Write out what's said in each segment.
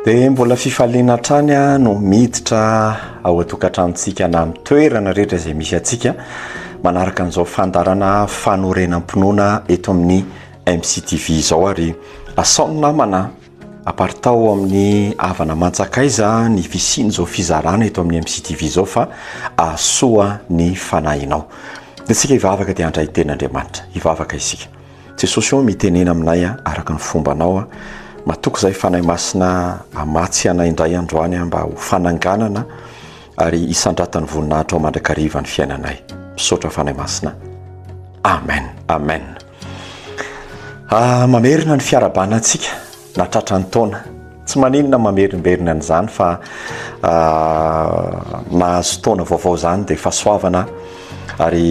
Dia mbola fifaliana hatrany no miditra ao an-tokantranontsika na amin'ny toerana rehetra izay misy antsika manaraka an'izao fandaharana fanorenam-pinoana eto amin'ny MCTV izao ary asao ny namana aparitao amin'ny havana mantsakaiza ny fisian'izao fizarana eto amin'ny MCTV izao fa ahasoa ny fanahinao. Dia isika hivavaka dia handray teny Andriamanitra. Hivavaka isika. Jesosy ô mitenena aminay a araka ny fombanao a matoky zay fanahy masina amatsy anay indray androany a mba ho fananganana ary isandratany voninahitrao mandrakariva ny fiainanay misaotra fanahy masina amen amen ah, mamerina ny fiarabana antsika Na tratra ny taona. Tsy maninona mamerimberina an'izany fa mahazo taona vaovao izany dia fahasoavana ary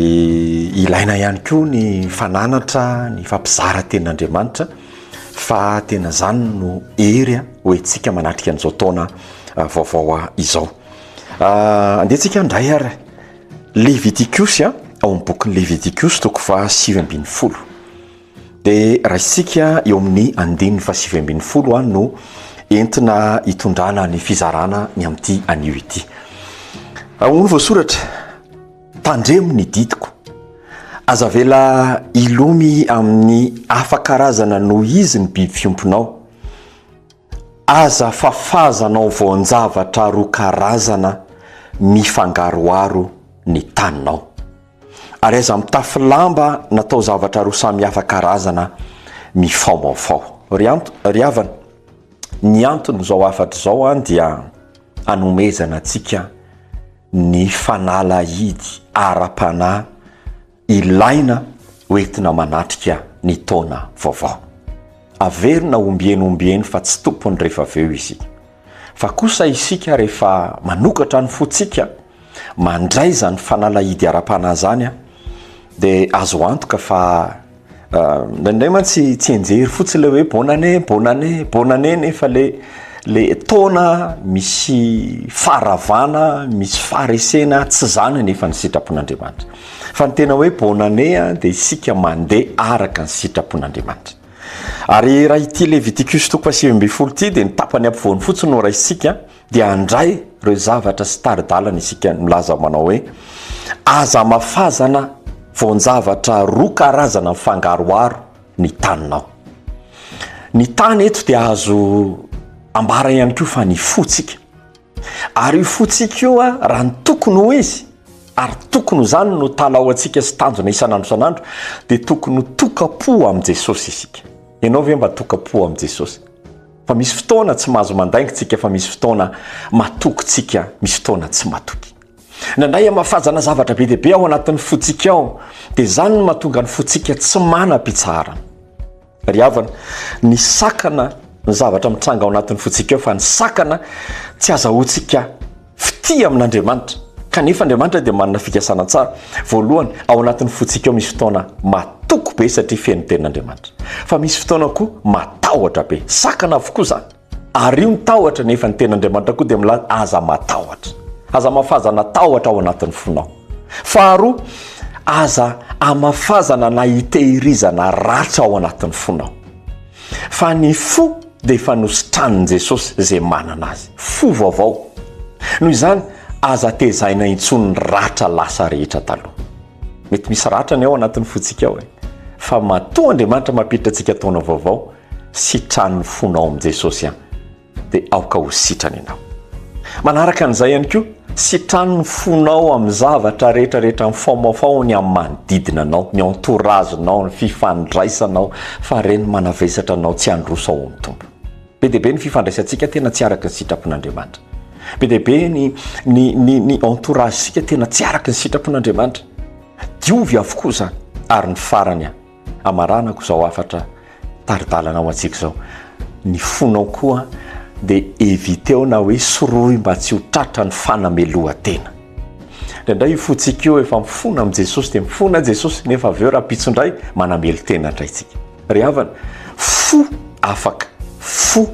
ilaina ihany koa ny fananatra ny fampizara tenin'Andriamanitra fa tena izany no hery ho entsika manatrika an'izao taona vaovao izao. Andehantsika indray ary Levitikosy ao amin'ny bokin'ny Levitikosy toko faha sivy ambin'ny folo. Dia raisintsika eo amin'ny andininy fahasivy ambin'ny folo no entina hitondrana ny fizarana ny amin'ity anio ity. Ahoana voasoratra? Tandremo ny didiko. Aza avela hilomy amin'ny hafa karazana noho izy ny biby fiompinao. Aza fafazanao voan-javatra roa karazana mifangaroharo ny taninao. Ary aiza mitafy lamba natao zavatra roa samy hafa karazana mifaomaofao. Ry anto, ry havana, ny anton'izao hafatra izao an dia anomezana antsika ny fanalahidy ara-panahy ilaina hoentina manatrika ny taona vaovao. Averina ombieny ombieny fa tsy tompony rehefa avy eo isika. Fa kosa isika rehefa manokatra ny fontsika mandray izany fanalahidy ara-panahy izany dia azo antoka fa indraindray mantsy tsy enjery fotsiny ilay hoe bonne année, bonne année, bonne année nefa ilay ilay taona misy faharavana, misy faharesena tsy izany anefa ny sitrapon'Andriamanitra. Fa ny tena hoe bonne année dia isika mandeha araka ny sitrapon'Andriamanitra. Ary raha ity Levitikus toko fahasivy ambin'ny folo ity dia ny tapany ampovoany fotsiny no raisintsika dia handray ireo zavatra sy tari-dalana isika milaza manao hoe aza amafazana voan-javatra roa karazana mifangaroharo ny taninao. Ny tany eto dia azo ambara ihany koa fa ny fontsika. Ary io fontsika io, raha ny tokony ho izy, ary tokony ho izany no talaoantsika sy tanjona isan'andro isan'andro, dia tokony ho tokam-po amin'i Jesosy isika. Ianao ve mba tokam-po amin'i Jesosy? Fa misy fotoana tsy mahazo mandainga isika, fa misy fotoana matoky isika, misy fotoana tsy matoky. Nandray hamafazana zavatra be dia be ao anatin'ny fontsika ao, dia izany no mahatonga ny fontsika tsy manam-pitsaharana. Ry havana, ny sakana ny zavatra mitranga ao anatin'ny fontsika ao fa ny sakana tsy azahoantsika fitia amin'Andriamanitra. Kanefa Andriamanitra dia manana fikasana tsara. Voalohany, ao anatin'ny fontsika ao misy fotoana matoky be satria feno tenin'Andriamanitra. Fa misy fotoana koa matahotra be. Sakana avokoa izany. Ary io ny tahotra nefa ny Tenin'Andriamanitra koa dia milaza, Aza matahotra. Aza amafazana tahotra ao anatin'ny fonao. Faharoa, aza amafazana na itehirizana ratra ao anatin'ny fonao. Fa ny fo dia efa nositranin'i Jesosy izay manana azy. Fo vaovao. Noho izany, aza tezaina intsony ny ratra lasa rehetra taloha. Mety misy ratra ny ao anatin'ny fontsika ao e. Fa matoa Andriamanitra mampiditra antsika taona vaovao, Sitran'ny fonao amin'i Jesosy an, dia aoka ho sitrany ianao. Manaraka an'izay ihany koa, sitrano ny fonao amin'ny zavatra rehetrarehetra mifaomafao ny amin'ny manodidina anao, ny entourage anao, ny fifandraisanao, fa ireny manavesatra anao tsy handroso ao amin'ny Tompo. Be dia be ny fifandraisantsika tena tsy araka ny sitrapon'Andriamanitra. Be dia be ny ny ny ny entourage-sika tena tsy araka ny sitrapon'Andriamanitra. Diovy avokoa izany ary ny farany an. Hamaranako izao hafatra tari-dalana ho antsika izao. Ny fonao koa dia eviteo na hoe sorohy mba tsy ho tratra ny fanamelohan-tena. Indraindray io fontsika io efa mifona amin'i Jesosy dia mifona i Jesosy nefa avy eo rahampitso indray manamelo-tena indray isika. Ry havana, fo afaka, fo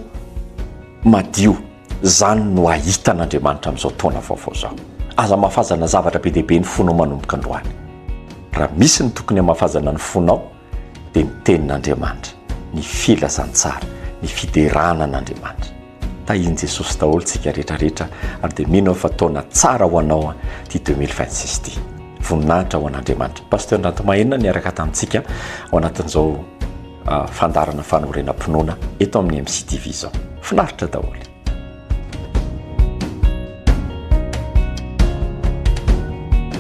madio. Izany no hahita an'Andriamanitra amin'izao taona vaovao izao. Aza hamafazana zavatra be dia be ny fonao manomboka androany. Raha misy ny tokony hamafazana ny fonao dia ny Tenin'Andriamanitra, ny filazantsara, ny fiderana an'Andriamanitra. Tahian'i Jesosy daholo tsika rehetra rehetra ary dia mino aho fa taona tsara ho anao ity 2026 ity. Voninahitra ho an'Andriamanitra. Pasteur Rantomahenina niaraka tamintsika ao anatin'izao. fandaharana fanorenam-pinoana eto amin'ny MCTV izao. Finaritra daholo.